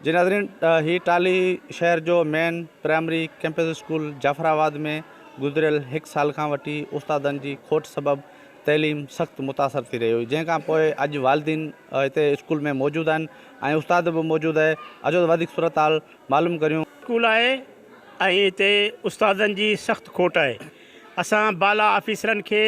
جي ناظرين هي ٽالهي شهر جو main primary campus school Jafarabad ۾ گذريل هڪ سال کان وٺي استادن جي کوٽ سبب تعليم سخت متاثر ٿي رهي هئي جنهن کان پوء اڄ والدين هتي اسڪول ۾ موجود آهن ۽ استاد به موجود آهي اچو ته وڌيڪ صورتحال معلوم ڪريون. اسڪول آهي ۽ هتي استادن جي سخت کوٽ آهي اسان بالا آفيسرن کي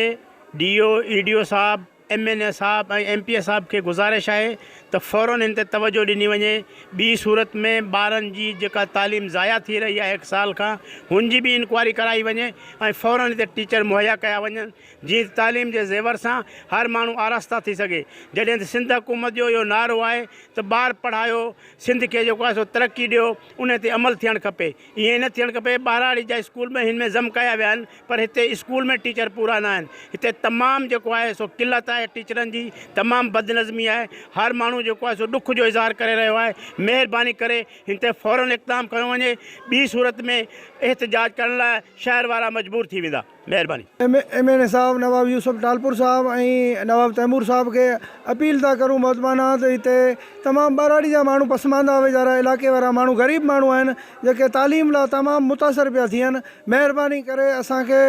D O E D O صاحب ايم اين اي صاحب ۽ ايم پي اي صاحب کي گذارش آهي ته فورن هن تي توجهه ڏني وڃي ٻي صورت ۾ ٻارن جي جيڪا تعليم ضايع ٿي رهي آهي هڪ سال کان هن جي به انڪوائري ڪرائي وڃي ۽ فورن هتي ٽيچر مهيا ڪيا وڃن جيئن ته تعليم جي زيور سان هر ماڻهو آراسته ٿي سگهي جڏهن ته سنڌ حڪومت جو اهو نعرو آهي ته ٻار پڙهايو سنڌ کي جيڪو آهي سو ترقي ڏيو ان تي عمل ٿيڻ کپي. ائين نه ٿيڻ کپي، ٻهراڙي جا اسڪول به هن ۾ ضم ڪيا ويا آهن پر هتي اسڪول ۾ ٽيچر پورا نه آهن، هتي تمام جيڪو آهي سو قلت آهي ٽيچرن جي، تمام بدنظمي آهي، هر ماڻهو جيڪو آهي سو ڏک جو اظهار ڪري رهيو آهي، مهرباني ڪري هن تي فورن اقدام کنيو وڃي، ٻي صورت ۾ احتجاج ڪرڻ لاء شهر وارا مجبور ٿي ويندا. مهرباني. ايم اين اي صاحب نواب يوسف ٽالپور صاحب ۽ نواب تيمور صاحب کي اپيل ٿا ڪرون محتمانه ته هتي تمام ٻهراڙي جا ماڻهو پسمانده ويجهارا علائقي وارا ماڻهو غريب ماڻهو آهن جيڪي تعليم لا تمام متاثر پيا ٿين مهرباني ڪري اسان کي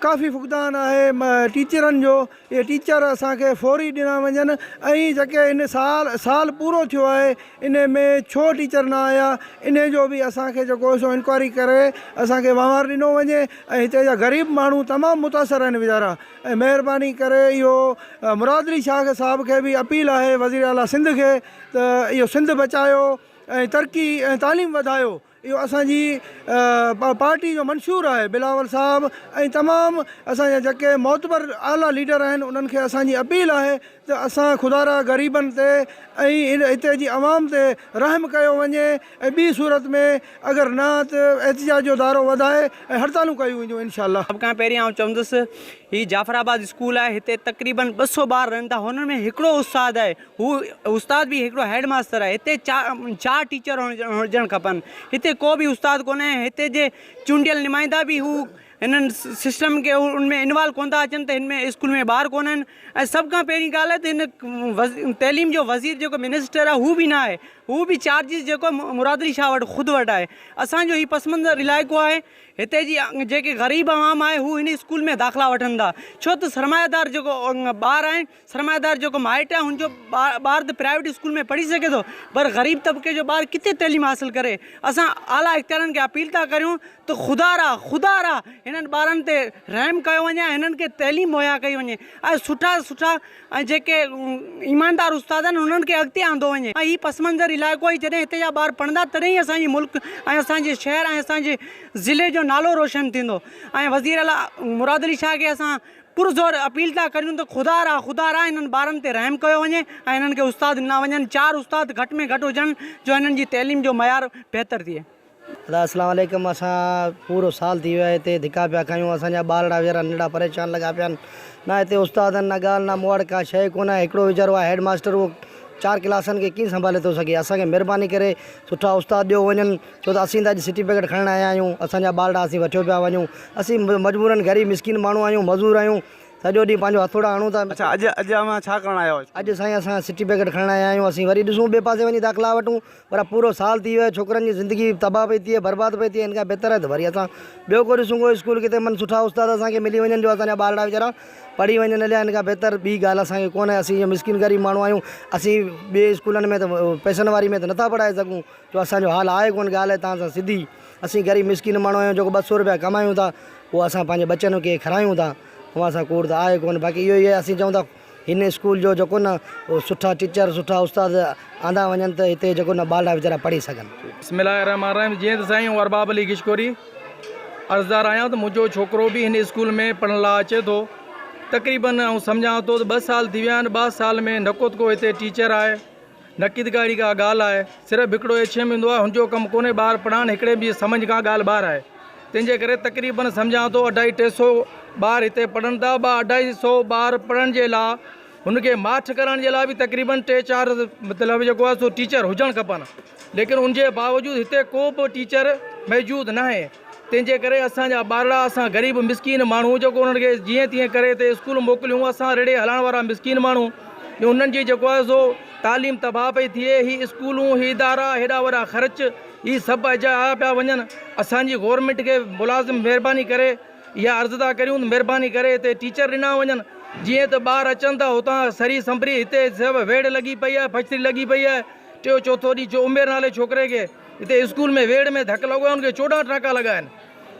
ڪافي فقدان آهي ٽيچرن جو اهي ٽيچر اسان کي فوري ڏنا وڃن ۽ جيڪي هن سال سال پورو ٿيو آهي ان ۾ ڇو ٽيچر نه آيا ان جو به اسان کي جيڪو سو انڪوائري ڪري اسان کي وهنوار ڏنو وڃي ۽ هتي جا غريب ماڻهو تمام متاثر آهن ويچارا ۽ مهرباني ڪري اهو مرادلي شاهه صاحب کي به اپيل آهي وزير اعلٰي سنڌ کي ته اهو سنڌ بچايو ۽ ترقي ۽ تعليم وڌايو اهو اسان جي پارٽي جو منشور آهي بلاول صاحب ۽ تمام اسان جا جيڪي معتبر اعليٰ ليڊر آهن انهن کي اسان جي اپيل آهي ته اسان خدا را غريبن تي ۽ هتي جي عوام تي رحم ڪيو وڃي ۽ ٻي صورت ۾ اگر نه ته احتجاج جو دائرو وڌائي ۽ هڙتالون ڪيون وينديون انشاء الله. سڀ کان پهرين آئون چوندس هي جعفر آباد اسڪول آهي هتي تقريبن ٻه سؤ ٻار رهن ٿا هنن ۾ هڪڙو استاد آهي هو استاد به هڪڙو هيڊ ماستر آهي. هتي چار ٽيچر هجڻ کپن. هتي ڪو به استاد ڪونهي ۽ هتي جي چونڊيل نمائندا به هو هنن سسٽم کي ان ۾ انوالو ڪونه ٿا اچن ته هن ۾ اسڪول ۾ ٻار ڪونه آهن ۽ سڀ کان پهرين ڳالهه ته هن تعليم جو وزير جيڪو منسٽر آهي هو به نه آهي هو به چارجز جيڪو مراد علي شاهه وٽ خود وٽ آهي. اسان جو هي پس منظر علائقو آهي هتي جي جيڪي غريب عوام آهي هو هن اسڪول ۾ داخلا وٺن ٿا ڇو ته سرمايه دار جيڪو ٻار آهن سرمائيدار جيڪو مائٽ آهي ان جو ٻار ته پرائيويٽ اسڪول ۾ پڙهي سگهي ٿو پر غريب طبقي جو ٻار ڪٿي تعليم حاصل ڪري اسان اعليٰ اختيارين کي اپيل ٿا ڪريون ته خدا را خدا را هنن ٻارن تي رحم ڪيو وڃي ۽ هنن کي تعليم مهيا ڪئي وڃي ۽ سٺا سٺا ۽ جيڪي ايماندار استاد آهن انهن کي اڳتي آندو وڃي ۽ هي پس منظر علائقو آهي جڏهن هتي جا ٻار پڙهندا تڏهن ئي اسان جي ملڪ ۽ اسان جي شهر ۽ اسان جي ضلعي جو نالو روشن ٿيندو ۽ وزير اعليٰ مراد علي شاهه کي اسان پرزور اپيل ٿا ڪريون ته خدا را خدا را انهن ٻارن تي رحم ڪيو وڃي ۽ انهن کي استاد ڏنا وڃن چار استاد گهٽ ۾ گهٽ هجن جو انهن جي تعليم جو معيار بهتر ٿئي. ادا اسلام عليڪم اسان پورو سال ٿي ويو آهي هتي ڌڪا پيا کايون اسان جا ٻارڙا ويچارا ننڍڙا پريشان لڳا پيا آهن نه هتي استاد آهن نه ڳالهه نه مون وٽ ڪا شيء ڪونه آهي هڪڙو ويچارو آهي هيڊ ماستر اهو چار ڪلاسن کي ڪيئن سنڀالي ٿو سگهي اسان کي مهرباني ڪري سٺا استاد ڏيو وڃن ڇو ته اسين ته اڄ سرٽيفڪيٽ کڻڻ آيا آهيون، اسان جا ٻارڙا اسين وٺيو پيا وڃون، اسين مجبورن غريب مسڪين ماڻهو آهيون، مزور آهيون، سڄو ڏينهن پنهنجو هٿوڙا هڻون ٿا. اڇا اڄ اڄ اوهان ڇا ڪرڻ آيا هئا؟ اڄ سائين اسان سرٽيفڪيٽ کڻڻ آيا آهيون، اسين وري ڏسون ٻئي پاسي وڃي داخلا وٺون، پر پورو سال ٿي ويو آهي، ڇوڪرن جي زندگي تباهه پئي ٿئي، برباد پئي ٿئي، ان کان بهتر آهي ته وري اسان ٻيو ڪو ڏسون ڪو اسڪول ڪٿي من سٺا استاد اسان کي ملي وڃن جو اسان جا ٻارڙا ويچارا پڙهي وڃن اليا ان کان بهتر ٻي ڳالهه اسان کي ڪونه، اسين مسڪين غريب ماڻهو آهيون، اسين ٻئي اسڪولن ۾ ته پئسن واري ۾ ته نٿا پڙهائي سگهون. جو اسان جو حال آهي ڪونه ڳالهه توهان سان سڌي اسين غريب مسڪين ماڻهو آهيون جيڪو ٻه سؤ روپيا ڪمايون ٿا اهو اسان پنهنجي ٻچن کي کارايون ٿا اوهان سان ڪوڙ ته آهي ڪونه باقي اهو ئي آهي اسين چئون ٿا هن اسڪول جو جيڪو نه اهو سٺا ٽيچر سٺا استاد آندا وڃن ته هتي جيڪو نه ٻارڙا ويچارا پڙهي سگهن. بسم الله الرحمٰن الرحيم جيئن ته سائين آئون ارباب علي گشڪوري عرضدار آهيان ته منهنجو ڇوڪرو به هن اسڪول ۾ پڙهڻ لاء اچي ٿو تقريبن آئون سمجهان ٿو ته ٻه سال ٿي ويا آهن ٻه سال ۾ نه ڪوتڪو هتي ٽيچر آهي نقيد ڪا اھڙي ڪا ڳالھ آھي، صرف ھڪڙو ايڇ ايم ھوندو آھي، ھن جو ڪم ڪونھي ٻار پڙھائڻ، ھڪڙي به سمجھ کان ڳالھ ٻاھر آھي، تنھن جي ڪري تقريبن سمجھان ٿو اڍائي ٽي سئو ٻار ھتي پڙھن ٿا، ٻه اڍائي سئو ٻار پڙھڻ جي لا ھن کي ماٺ ڪرڻ جي لا به تقريبن ٽي چار مطلب جيڪو آھي سو ٽيچر ھجڻ کپن، ليڪن ان جي باوجود ھتي ڪو به ٽيچر موجود ناھي. تنهن جي ڪري اسان جا ٻارڙا، اسان غريب مسڪين ماڻهو جيڪو انهن کي جيئن تيئن ڪري تي اسڪول موڪليون، اسان رڙي هلائڻ وارا مسڪين ماڻهو ۽ انهن جي جيڪو آهي سو تعليم تباهه پئي ٿئي، هي اسڪولون، هي ادارا، هيڏا وڏا خرچ، هي سڀ اجايا پيا وڃن، اسان جي گورنمينٽ کي ملازم مهرباني ڪري اها عرض ٿا ڪريون ته مهرباني ڪري هتي ٽيچر ڏنا وڃن، جيئن ته ٻار اچن ٿا هتان سري سنڀري، هتي سڀ ويڙهه لڳي پئي آهي، فئڪٽري لڳي پئي آهي، ٽيو چوٿون ڏينهن جو عمير نالي ڇوڪري کي. هتي اسڪول ۾ ويڙهه ۾ ڌڪ لڳو آهي ان کي چوڏهن ٽانڪا لڳا آهن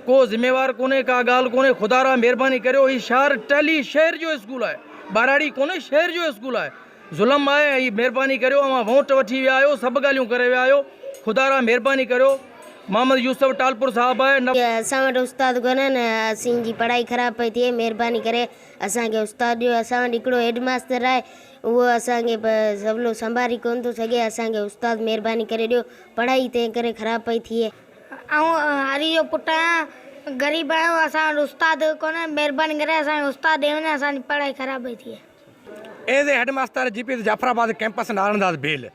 ڪو ذميوار ڪونهي ڪا ڳالهه ڪونهي خدا را مهرباني ڪريو هي شهر ٽهلي شهر جو اسڪول آهي ٻهراڙي ڪونهي شهر جو اسڪول آهي ظلم آهي ۽ مهرباني ڪريو اوهان وونٽ وٺي ويا آهيو سڀ ڳالهيون ڪري ويا آهيو خدا را مهرباني ڪريو محمد يوسف ٽالپور صاحب آهي نه اسان وٽ استاد ڪونهن اسين جي پڙهائي خراب پئي ٿئي مهرباني ڪري اسان کي استاد ڏيو اسان وٽ هڪڙو هيڊ ماستر آهي اهو اسان کي به سولو سنڀاري ڪونه ٿو سگهي. اسان کي استاد مهرباني ڪري ڏيو. پڙهائي تنهن ڪري خراب پئي ٿئي. آئون هري جو پٽ آهيان. غريب آهيون. اسان وٽ استاد ڪونهي. مهرباني ڪري اسان کي استاد ڏئي وڃي. اسان جي پڙهائي خراب پئي ٿئي. As a head master G P S Jafarabad campus Naran Das Bheel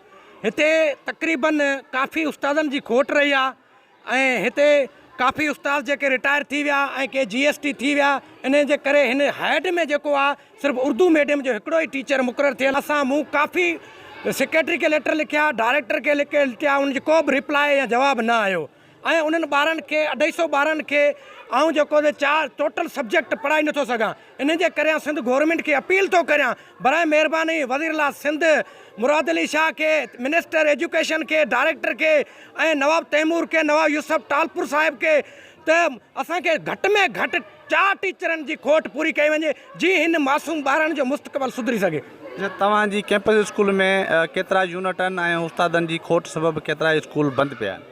هتي تقريبن ڪافي استادن جي کوٽ رهي آ. ۽ هتي ڪافي استاد جيڪي رٽائر ٿي ويا ۽ ڪي جي ايس ٽي ٿي ويا انهن جي ڪري هن هيڊ ۾ جيڪو آ صرف اردو ميڊيم جو هڪڙو ئي ٽيچر مقرر ٿيل اسان مون ڪافي سيڪريٽري کي ليٽر لکيا ڊائريڪٽر کي لکي لٽيا انهن جي ڪو به ريپلاء يا جواب نه آيو ۽ انهن ٻارن کي اڍائي سو ٻارن کي آئون جيڪو چار ٽوٽل سبجيڪٽ پڙهائي نٿو سگهان ان جي ڪري آن سنڌ گورنمينٽ کي اپيل ٿو ڪريان براء مهرباني وزيراعليٰ سنڌ مراد علي شاهه کي، منسٽر ايجوڪيشن کي، ڊائريڪٽر کي ۽ نواب تيمور کي، نواب يوسف ٽالپور صاحب کي ته اسان کي گهٽ ۾ گهٽ چار ٽيچرن جي کوٽ پوري ڪئي وڃي جي هن معصوم ٻارڙن جو مستقبل سڌري سگهي. اچا توهان جي ڪيمپس اسڪول ۾ ڪيترا يونٽن ۽ استادن جي کوٽ سبب ڪيترا اسڪول بند پيا آهن.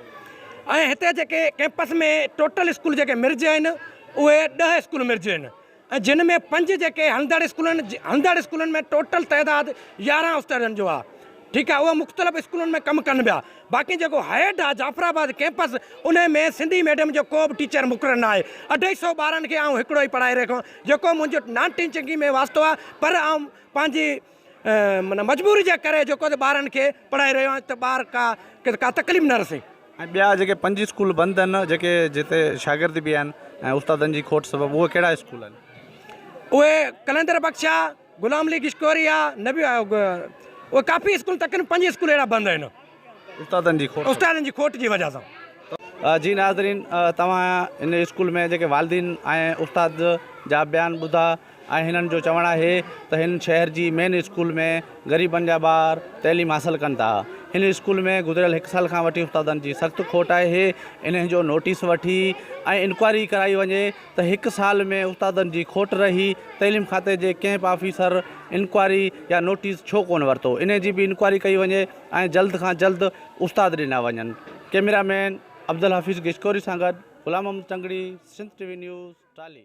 ۽ هتي جيڪي ڪيمپس ۾ ٽوٽل اسڪول جيڪي مرج آهن. اهي ڏهه اسڪول مرجين ۽ جن ۾ پنج جيڪي هلندڙ اسڪولن هلندڙ اسڪولن ۾ ٽوٽل تعداد يارهن استادن جو آهي ٺيڪ آهي اهي مختلف اسڪولن ۾ ڪم ڪن پيا باقي جيڪو هيڊ آهي جعفر آباد ڪيمپس ان ۾ سنڌي ميڊيم جو ڪو به ٽيچر مقرر نه آهي اڍائي سئو ٻارن کي آئون هڪڙو ئي پڙهائي رهيو جيڪو منهنجو نان ٽيچنگ ۾ واسطو آهي پر آئون پنهنجي معنيٰ مجبوري جي ڪري جيڪو ته ٻارن کي پڙهائي رهيو آهيان ته ٻار ڪا ڪا تڪليف نه رسي. ۽ ٻيا جيڪي پنج اسڪول بند آهن جيڪي جتي شاگرد به آهن ۽ استادن جي کوٽ سبب اهي ڪهڙا اسڪول آهن؟ اهي قلندر بخش آهي، غلام علي گشڪوري آهي، نبي آهي اهي ڪافي اسڪول تقريبن پنج اسڪول اهڙا بند آهن. استادن جي کوٽ. استادن جي کوٽ جي وجه سان. جي ناظرين توهان هن اسڪول ۾ جيڪي والدين ۽ استاد جا بيان ٻڌا ۽ هنن جو چوڻ آهي ته هن شهر جي مين اسڪول ۾ غريبن جا ٻار تعليم حاصل ڪن ٿا هن اسڪول ۾ گذريل هڪ سال کان وٺي استادن جي سخت کوٽ آهي انهن جو نوٽيس وٺي ۽ انڪوائري ڪرائي وڃي ته هڪ سال ۾ استادن جي کوٽ رهي تعليم کاتي جي ڪئمپ آفيسر انڪوائري يا نوٽيس ڇو ڪونه ورتو انهن جي به انڪوائري ڪئي وڃي. ۽ جلد کان جلد استاد ڏنا وڃن ڪيميرا مين عبدالحفيظ گيچڪوري سان گڏ Ghulam Muhammad Tangri Sindh T V news ٽالهي.